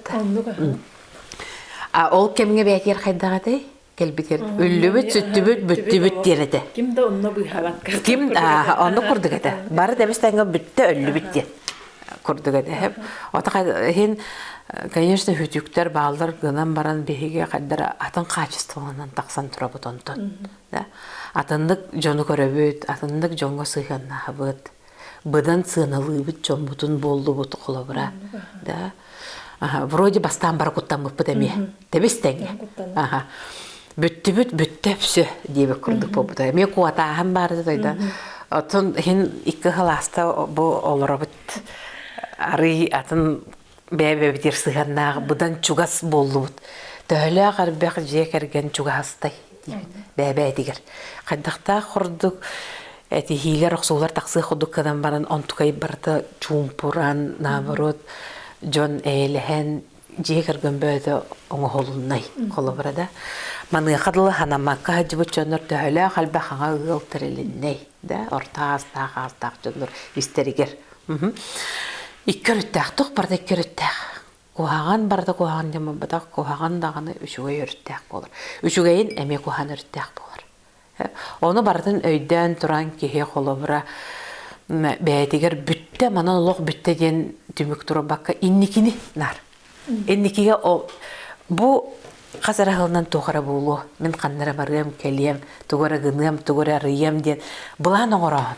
А ол кэмҥэ бээтигэр хайдах этэй? Кэлбитин үллүбүт, сүттүбүт, бүттүбүт диир этэ. Ким да онно быыһаабакка. Ким аа онно курдук этэ. Бары да эбэстээҥҥэ бүттэ өллүбүт диэн курдук этэ. Отаха иһин конечно үтүктэр бааллар гынан баран биһиги хайдара атын хаачыстыбаланан тахсан турабыт онтон. Атыннык дьону көрөбүт, атыннык дьоҥҥо сыһыаннаһабыт. быдан сыаналыыбыт дьоммутун буоллубут холобура да аха вроде бастаан бара куттаммыппыт эмиэ тэбис тэҥэ аха бүттүбүт бүттэ все диэбит курдук буолбута эмиэ куотааһын баар да дойда оттон иһин икки хылааста бу олоробут арый атын бэйэ-бэйэбитигэр сыһыаннаах быдан чугас буоллубут. Төһөлөөх арбэх дьиэ кэргэн чугастай диибит бэйэ-бэйэтигэр. Хайдахтаах ордук этиһиилэр, охсуулар тахсыах курдук гынан баран онтукай барыта чуумпуран, наоборот дьон эйэлэһэн дьиэ кэргэн бөөтө оҥоһулуннай холобура да. Маныаха дылы ханамакка сылдьыбыт дьоннор төһөлөөх элбэх аҕа ыал тэрилиннэй да орто аастаах аастаах дьоннор истэригэр Икки өрүттээх, тух барда икки өрүттээх. Куһаҕан барда куһаҕан диэн буолбатах, куһаҕан даҕаны үчүгэй өрүттээх буолар. Үчүгэйин эмиэ куһаҕан өрүттээх буолар. Ону барытын өйдөөн туран киһи холобура бэйэтигэр бүттэ, манан олох бүттэ диэн түмүк турбакка инникини наар. Инникигэ бу хас эрэ сылынан туох эрэ буолуо, мин ханна эрэ барыам, кэлиэм, тугу эрэ гыныам, тугу эрэ арыйыам диэн былаан оҥорооһун.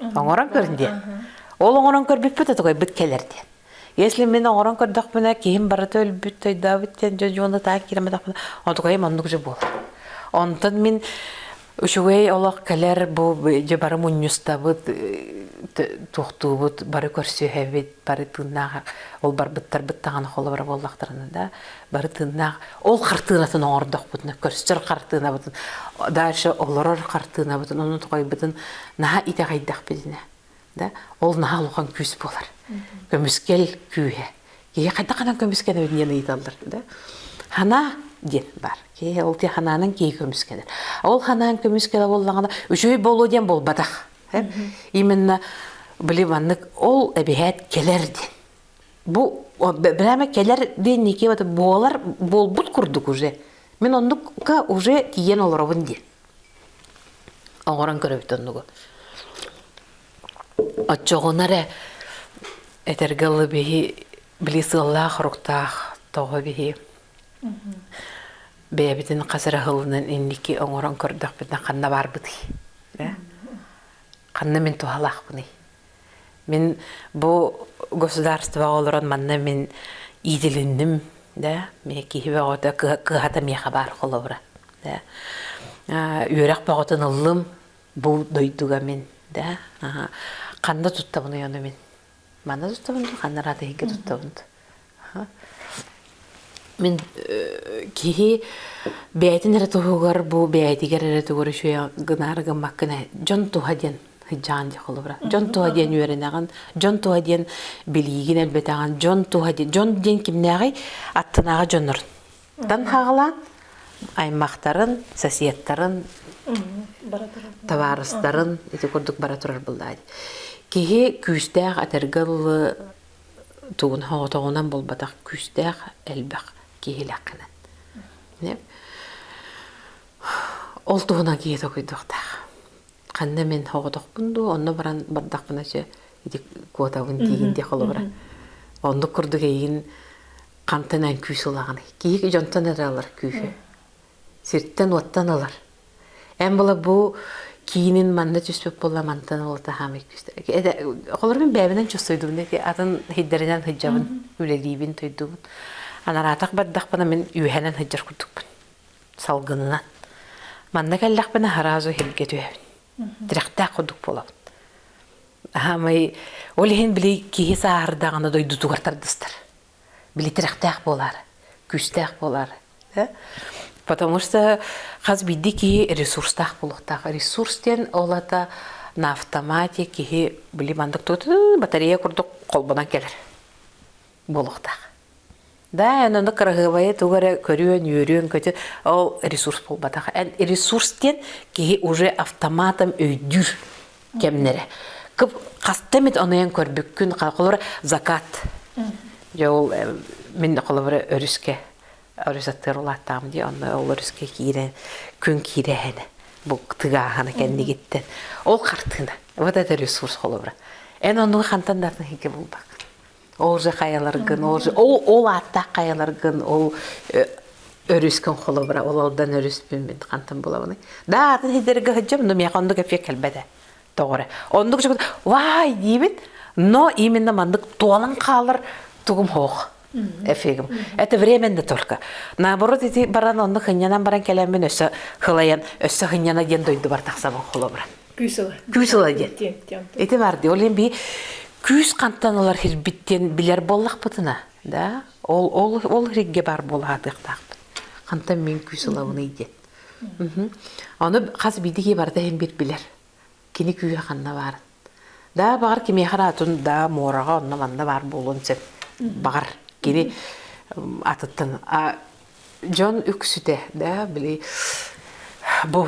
Оҥорон көрүн диэн. Ол оҥорон көрбүппүт отугайбыт кэлэр диэн. Если мин оҥорон көрдөхпүнэ киһим барыта өлбүт тойдообут диэн дьоны таах киирэмэтэхпинэ отугайым оннук же буолар. Онтон мин үчүгэй олох кэлэр бу бары мунньустабыт туохтуубут бары көрсүһэбит бары тыыннаах ол барбыттарбыт даҕаны холобура буоллахтарына да бары тыыннаах ол хартыынатын оҥордохпутуна көрсөр хартыынабытын дальше олорор хартыынабытын ону тоҕойбутун наһаа итэҕэйдэхпитинэ да ол наһаа улахан күүс буолар көмүскэл күүһэ киһи хайдах гынан көмүскэнэбит диэн ыйыталлар да хана диэн бар киһи ол ти ханаанан киһи көмүскэнэр ол ханаан көмүскэлэ буоллаҕына үчүгэй буолуо диэн буолбатах именно били маннык ол эбиһээт кэлэр диэн бу брэме кэлэр диэн ники вот буолар буолбут курдук уже мен оннукка уже тиен олоробун диэн оңорон көрөбүт оннугу отчоҕуна эрэ этерге ылы биһи били сыаллаах руктаах тоҕо биһи бэйэбитин хас эрэ һылынан инники оҥорон көрдөхпүтүнэ ханна баарбытый ханна мин туһалаахпыный мин бу государствоҕа олорон манна мин иитилинним да миэ киһи бөҕөтө кыһата миэхэ баар холобура да үөрэх бөҕөтүн ыллым бу дойдуга мин да ханна туттабын ону мин Манна тутабын дуу, ханна араатыһыйга туттабын дуу. Мин киһи бэйэтин эрэ туһугар бу бэйэтигэр эрэ тугар үчүгэй гынаары гыммаккын дьон туһа диэн сыдьаан диэх холобура. Дьон туһа диэн үөрэнэҕин, дьон туһа диэн билиигин элбэтэҕин, дьон туһа диэн дьон диэн кимнээҕий? Аттынааҕы дьоннор. Тан хаалаан аймахтарын, соседтарын, табаарыстарын ити курдук бара турар былаан. Киһи күүстээх этэргэ дылы тугун хоҕотоҕунан булбатах күүстээх элбэх киһилэххинэн. Ол туһунан киһи токуйдуохтаах. Ханна мен хоҕотохпун дуу, онно баран бардахпына сөп ити куотабын тиигин де холобура. Оннук курдук эйигин хантан эн күүс ылаҕыный? Киһи дьонтон эрэ ылар күүһү. Сиртэн-уоттан ылар. Эн була бу киинин манна түспүт буолла мантан ылата хаамый күүстэрэ. Холор мин бэйэбинэн чувствуйдубун ити атын һиддэринэн һыддьабын, үлэлиибин, туйдубун. Анараатах бардахпына мин үөһэнэн һыддьар курдукпун. Салгынынан. Манна кэллэхпинэ сразу иһиргэ түһэбин. Тирэхтээх курдук буолабын. Аһаамай ол иһин били киһи сааһырдаҕына дойдутугар тардыстар. били тирэхтээх буолаар, күүстээх буолаар. Потому что хас биирдии киһи ресурстаах буолуохтаах. Ресурс диэн ол ата на автомате киһи били мандык батарея курдук холбонон кэлэр буолуохтаах. Да, аны кыраһыабайы туга эрэ көрүөн, үөрүөн көтө, ол ресурс буолбатах. Ресурс диэн киһи уже автоматом өйдүүр кэмнэрэ кып хаста эмит онуйан көрбүккүн холобура закат дьэ ол мин холобура өрүскэ өрүс аттыгар улааттаам дии онно ол өрүскэ киирэн күн киирэһинэ бу тыгааһана кэннигиттэн ол хартыына вот это ресурс холобура эн онуга хантан да артыһыйга булбак Ол же хайаларгын, ол же ол ол ааттаах хайаларгын, ол өрүскүн холобура, ол алдан өрүспүн мин хантан булабыный. Да атын хидерге хыджам, но меха оннук эпке кэлбете. Тоғыра. Оннук же вай дибит, но именно мандык туалан калыр тугум хох. Эфигим. Это временно только. Наоборот, ити баран онну хыннянан баран кэлэммин өссө хылайан, өссө хынняна диэн дойду бар тахсабын холобура. Күүсела. Күүсела диэн. Ити барды. Ол би күүс хантан олар хирбиттен билер боллахпытына, да? Ол ол ол ригге бар болаатыктаахпыт. Хантан мен күүселабыный диет. Оны хас бидиги барда хембит билер. Кини күүһэ ханна барын. Да багар кимехар атын да морага онна манна бар болон сен. Багар кини атыттан а Дьон үксүтэ, да, били бу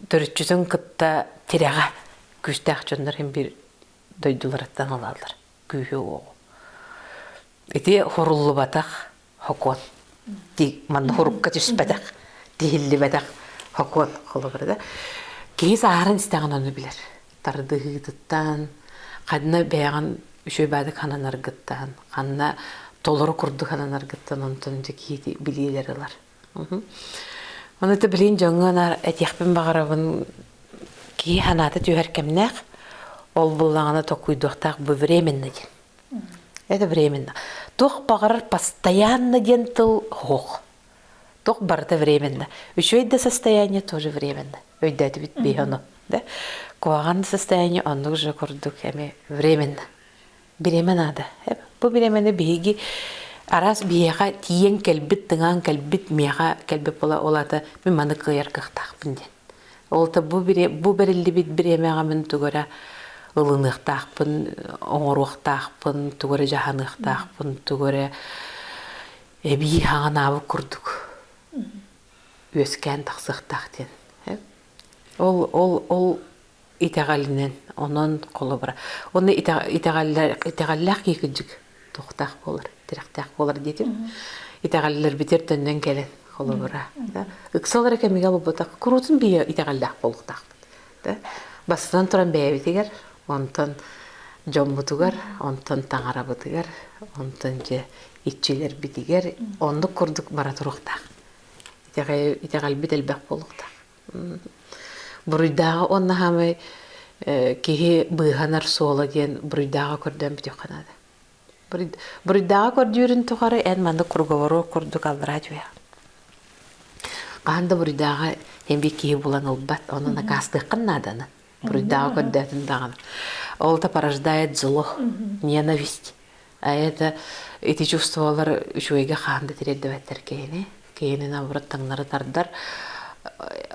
төрүччүтүн кытта тирэҕэ күүстээх дьоннор иһин биир дойдуларыттан ылаллар күүһү уоҕу. Ити хоруллубатах хокуон. Маннык урукка түспэтэх, тиһиллибэтэх хокуон холобура да. Киһи сааһыран истэҕин ону билэр. тардыһыытыттан, ханна бэйэҕин үчүгэйбээдик хананаргыттан, ханна толору курдук хананаргыттан онтон дьэ киһи билиилэр ылар. Ону ты билин дьоҥҥо этиэхпин баҕарабын киһи санаата түһэр кэмнээх ол буллаҕына токуйдуохтаах бу временно диэн. Это временно. Туох баҕарар постоянно диэн тыл оһох. Туох барыта временно. Үчүгэй да состояние тоже временно. Өйдөөтүбүт бии ону. Да? Куһаҕан состояние оннук же курдук эми временно. Бириэмэ наада. Бу бириэмэни биһиги араас биһиэхэ тиийэн кэлбит, тыҥаан кэлбит, миэхэ кэлбит була ол ата мин маны кыайар кыахтаахпын диэн. Ол та бу бу бэриллибит бириэмэҕэ мин тугара ылыныахтаахпын, оҥоруохтаахпын, тугара дьаһаныахтаахпын, тугара эбии хаҥанаабыт курдук үөскээн тахсыахтаах диэн ол ол ол итэҕэлинэн онон холобура уонна итэҕэллээх киикидьик туохтаах буолар тирэхтээх буолар диэтим итэҕэллэрбитигэр төннөн кэлэн холобура ыксалара кэмигэ булбутах куруутун бийэ итэҕэллээх буолуохтаахпыт бастан туран бэйэбитигэр онтон дьоммутугар онтон таҥарабытыгар онтон дьэ иччилэрбитигэр оннук курдук бара туруохтаах. Итэҕэлбит элбэх буолуохтаах. Буруйдааҕы он наһаамай киһи быыһанар суола диэн буруйдааҕы көрдөөн бүтүөххэ наада. Буруйдааҕы көрдүүрүн тухары эн маннык круговору курдук аллараа түһээх. Хаһан да буруйдааҕы эмбик киһи булан ылбат, онон акаастыаххын нааданы. Уруйдааҕы көрдөөтүн даҕаны. Ол это порождает зло, ненависть. А это ити чувствовалар үчүгэйгэ хаан да тириэрдибэттэр киһини. Киһини наоборот таҥнары тардар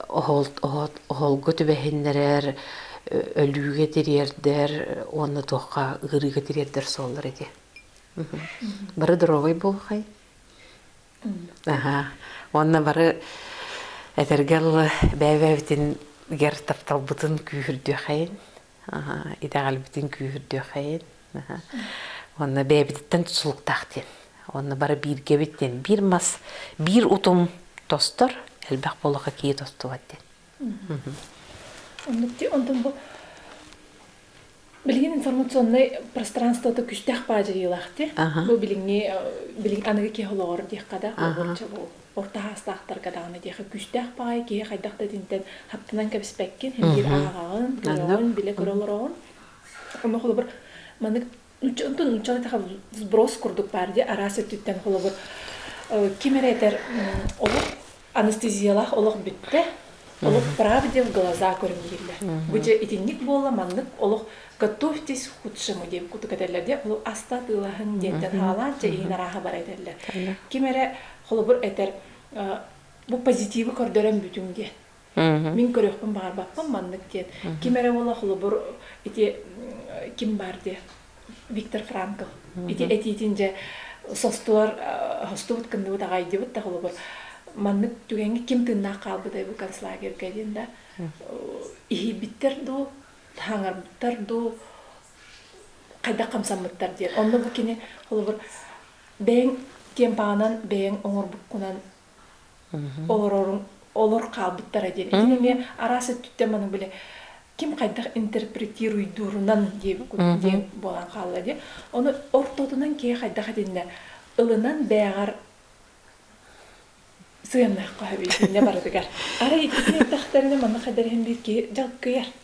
оһолго түбэһиннэрэр, өлүүгэ тириэрдэр уонна туохха ыарыыга тириэрдэр суоллар эти. Бары доровой буолхай. Аһаа, уонна бары этэргэ дылы бэйэбитин тапталбытын күүһүрдүөхэйин, итэҕэлбитин күүһүрдүөхэйин, уонна бэйэбититтэн тутулуктаах диэн. Уонна бары бииргэбит диэн биир мас, биир утум тостор, элбэх буолаха киһи тостубат диэн. Оннук онтон бу Билигин информационнай пространствота күстээх баадьайыылаахтыр. Бу билиҥҥи билиҥ аныгы киһи олоҕор диэххэ да уонча орто саастаахтарга даҕаны диэхэ күстээх баайы киһи хайдах да итинтэн хаптынан кэбиспэккин биир ааҕаҕын көрөҕүн билэ көрө олороҕун ону холобур маннык нуучча онтон нууччалыы таха сброс курдук баар дии араас өттүттэн холобур ким эрэ этэр олох Анестезиялаах олох бүттэ, олох правде в глаза көрүҥ дииллэр. Бу дьэ итинник буолла, маннык олох Готовьтесь к худшему диэн курдук этэллэр, дьэ ол аста атыылаһыҥ диэнтэн хаалаан чэ иһин арааһа бара этэллэр. Ким эрэ холобур этэр, бу позитивы көрдөрөн бүтүҥ диэн. Мин көрүөхпүн баҕарбаппын маннык диэн. Ким эрэ уола холобур ити ким баар диэн Виктор Франко ити этиитин дьэ состуор хостубут кымныбыт аҕайдыбыт тахылыбыт маннык түгэҥҥэ ким тыыннаах хаалбытай бу концлагерьга диэн да иһийбиттэр дуу хаҥарбыттар дуу хайдах хамсаммыттар диэн онно бу кини холобур бэйэҥ киэм паҕанан бэйэҥ оҥорбуккунан олорорум олор хаалбыттара диэн итини эмиэ араас өттүттэн маны бile ким хайдах интерпретируйдуурунан диэн буолан хаалла диэн ону ортотунан киһи хайдах этиннэ ылынан бээҕэр сыаннаахха сөбүлүтүннэ барытыгар арай итини эттэхтэринэ манна хадариһин биир киһи дьалкыйар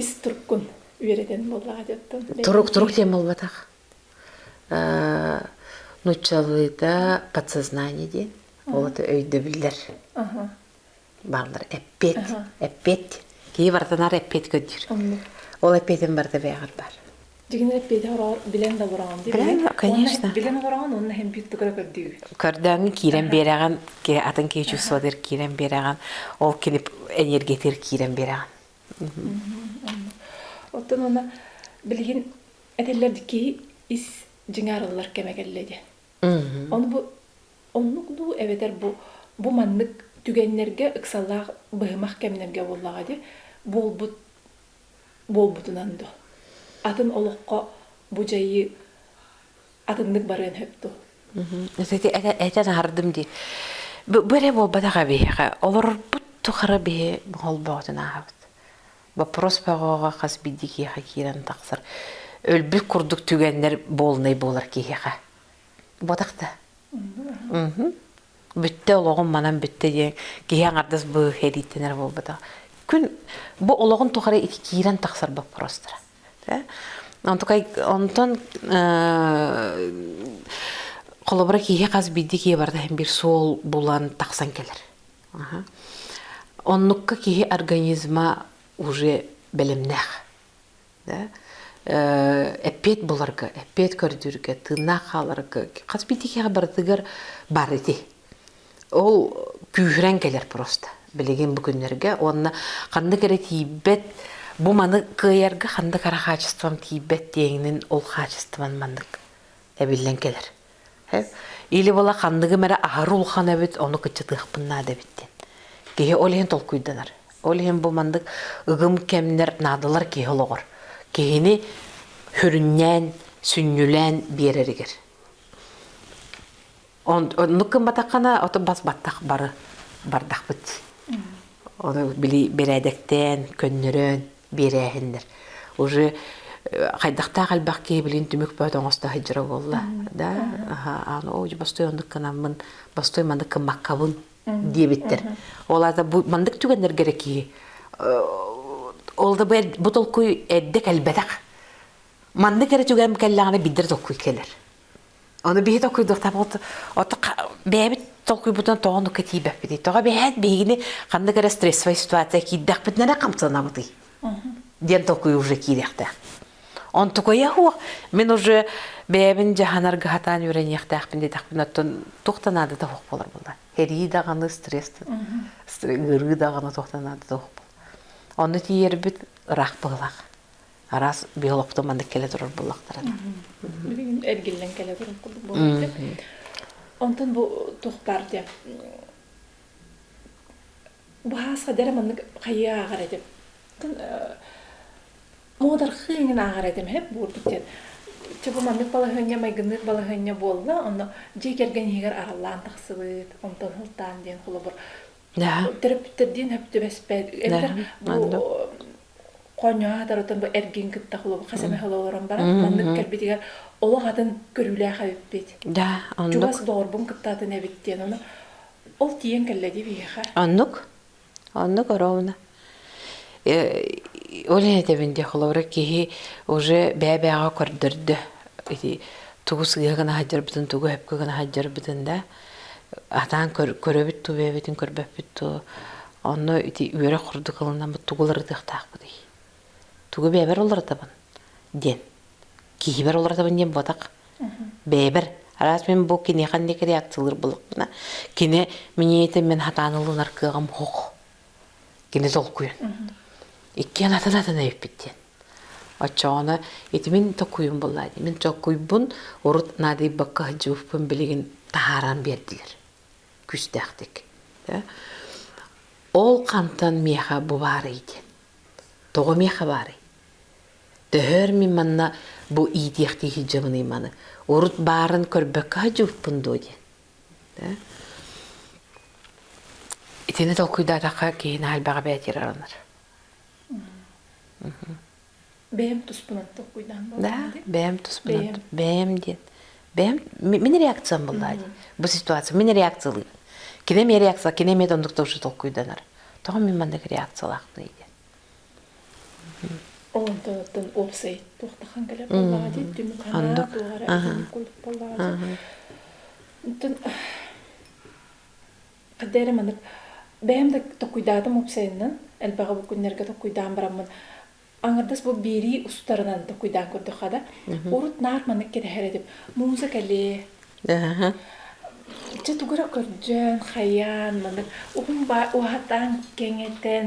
ис туркун үөрэтэн буоллаҕа дьоттон турук турук диэн буолбатах нуччалыыта подсознание диэн ол это өйдөбүллэр бааллар эппиэт эппиэт киһи барытынаар эппиэт көрдүүр ол эппиэтин барыта бэйэҕэр баар Дигин эппиэтэ ороҕор билэн да олороҕун дии. Билэн, конечно. Билэн олороҕун уонна һэм биир тукара көрдүү. Көрдөөҥҥү киирэн биэрэҕин, атын киһи чувствотыгар киирэн биэрэҕин, ол кини энергиятыгар киирэн биэрэҕин. Оттон уна билигин этиллэр киһи ис дьиҥаарыллар кэмэ кэллэ диэн. Ону бу оннук дуу эбэтэр бу бу маннык түгэннэргэ ыксаллаах быһымах кэмнэргэ буоллаҕа дии буолбут буолбутунан дуо атын олоххо бу дьайыы атыннык барыан сөп дуо этэ таһардым дии бу эрэ буолбатаҕа биһиэхэ олорорбут тухары биһи холбоотун ааһабыт боппуруос бөҕөҕө хас биирдии киһиэхэ киирэн тахсар өлбүт курдук түгэннэр буолунай буолар киһиэхэ буотах да Бүтте олоҕум манан бүтте диэн киһи аҥардас бу эрийтэнэр буолбатах. Күн бу олоҕун тухары киирэн тахсар боппуруостара. Онтон холобура киһи хас биирдии киһи барда иһин биир суол булан тахсан кэлэр. Оннукка киһи организма уже бэлэмнээх. да эппиэт буларга эппиэт көрдүүргэ тыыннаах хааларга хас биитикиэҕэ барытыгар баар ити ол күүһүрэн кэлэр просто билигин бу күннэргэ уонна ханнык эрэ тиийбэт бу маны кыайарга ханнык эрэ хаачыстыбам тиийбэт диэҥинин ол хаачыстыбам маннык эбиллэн кэлэр Или была ханныгым эрэ аһары улахан эбит, ону кыччатыахпын наада эбит диэн. Киһи ол иһин толкуйданар. Ол иһин бу маннык ыгым кэмнэр, наадалар киһи олоҕор. Киһини хүрүннээн, сүнньүлээн биэрэригэр. Оннук гымматаххына, ото бас баттах бары бардахпыт. Оны били бэрээдэктээн, көннөрөөн биэрээһиннэр. Уже хайдахтаах элбэх киһи билин түмүк бөөт оҥосто сылдьара буолла. Да, аһа, аны ой бостой оннук кынаммын, бостой маннык кыммаккабын диэбиттэр. Ол аата бу маннык түгэннэргэ эрэ киһи ол да бу толкуй эрдэ кэлбэтэх. Маннык эрэ түгэн кэллэҕинэ биддер толкуй кэлэр. Ону биһи толкуйдуохтаахпыт оту бэйэбит толкуйбутунан тоҕо оннукка тиийбэппитий? Тоҕо бэйэһит биһигини ханнык эрэ стрессовай ситуация киирдэхпитинэ эрэ хамсанабытый? диэн толкуй уже киириэхтээх. Онтукайа уо мин уже бэйэбин дьаһанарга хатаан үөрэниэхтээхпин диэтэхпин оттон туох да наадата суох буолар буолла. Эрии даҕаны стресс ыарыы даҕаны туох да наадата суох буолла. Ону тиийэрбит ыраах быһылаах. араас биологтар маннык кэлэ турар буоллахтара билигин эргиллэн кэлэ турар курдук буолбут онтон бу туох баар диэн баһаасха дэрэ маннык хайыы ааҕар этим муодархыы иҥин ааҕар этим хэп буурдук диэн чыбы маннык балаһыанньа майгыннык балаһыанньа буолла онно дьиэ кэргэн иһигэр араллаан тахсыбыт онтон сылтаан диэн холобур Да. Төрөппүттэрдиин сөп түбэспэт эбэтэр Да, бу маннык. хоонньоһо сатарытын бу эргин кытта холобур хас эмэ холо олорон баран маннык Мм. кэлбитигэр олох атын көрүүлээх эбиппит. Да, Чугас оннук. доҕорбун кыттаатын эбит диэн ону ол тиийэн кэллэ дии биһиэхэ. Оннук. Оннук ороона. Ол этэбин диэ холобура киһи уже бэбэҕэ көрдөрдө ити тугус ыга гына сылдьарбытын тугу өпкө гына сылдьарбытын да атаан көрөбүт туу бэбитин көрбөппүт туу онно ити үөрэх курдук ылынаммыт тугулар ытыахтаахпытый тугу бэбэр уларатабын диэн киһибэр уларатабын диэн буотах бэбэр араас мен бу киниэхэ ник реакциялыр булукпуна кине миниэтин мен хатаан ылынар кыаҕым хох Кини толкуйа. Иккиэн атын атын эбиппит диэн. Оччоҕуна ити мин токуйум буллаа мин токуйбун урут наадыйбакка сылдьыбыппын билигин таһааран биэрдилэр күүстээхтик ол хантан миэхэ бу баарый диэн тоҕо миэхэ баарый төһөр мин манна бу иитиэхтии сылдьабыный маны урут баарын көрбөккө сылдьыбыппын дуо диэн Итини толкуйдаатахха киһини хальбаҕа бээтир аранар. Бэйэм туспунат толкуйдаан болдум. Да, бэйэм туспунат. Бэйэм диэн. Бэйэм мин реакциям буллаа дии. Бу ситуация мин реакциялыыр. Кинем реакция кинем оннук тоже толкуйданар. Тоҕо мин маннык реакциялаах дии Онтон уопсай туохтахан кэлэ буоллаҕа дии түмүк-ханаа туоһара итинник курдук буоллаҕа дии хадда эрэ маннык бэйэм да токуйдаатым уопсайынан элбэҕи бу күннэргэ токуйдаан бараммын аҥардас бу биэрии устарынан токуйдаан көрдөххө да урут наар маннык кэтэһэр этим музыка лээ чэ тугу эрэ көрдөөн хайаан маннык уһун баа уһатан кэҥэтэн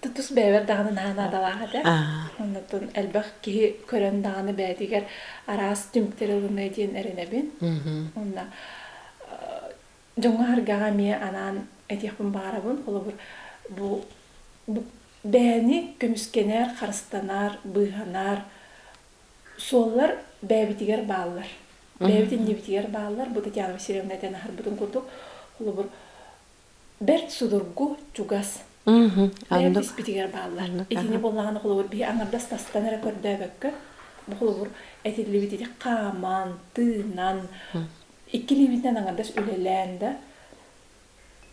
тутус бэйэбэр даҕаны наһаа наадалаах этэ. Оннуттан элбэх киһи көрөн даҕаны бэйэтигэр араас түмтэрэ диэн эрэнэбин. Онно дьоҥҥо харгаҕа эмиэ анаан этиэхпин баҕарабын. Холобур, бу бэйэни көмүскэнэр, харыстанар, быыһанар суоллар бэйэбитигэр бааллар. Бэйэбит иннибитигэр бааллар. Бу Татьяна Васильевна этэн аһарбытын курдук, холобур, бэрт судургу, чугас. Бэйэм испитигэр бааллар. Итини буоллаҕына холобур биһи аҥардас тастан эрэ көрдөөбөккө бу холобур этиллибит ити хааман, тыынан иккилиибитинэн аҥардас үлэлээн да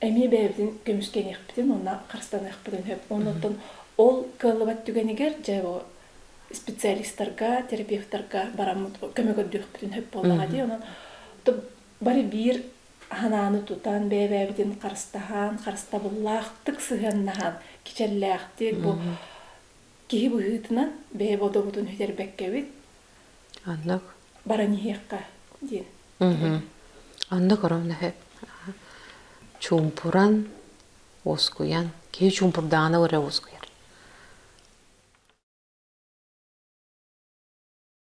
эмиэ бэйэбитин көмүскэниэхпитин уонна харыстаныахпытын сөп. Оннуттан ол кыаллыбат түгэнигэр дьэ бу специалистарга, терапевтарга бараммыт көмө көрдүөхпүтүн сөп буоллаҕа дии. Онон бары биир санааны тутан бэйэ-бэйэбитин харыстаһан, харыстабыллаахтык сыһыаннаһан кичэллээхтик бу киһи быһыытынан бэйэ бодобутун үтэрбэккэбит аннак баран иһиэххэ диэн аннак ороннахе чумпуран уоскуйан киһи чумпурдаана өрө уоскуйар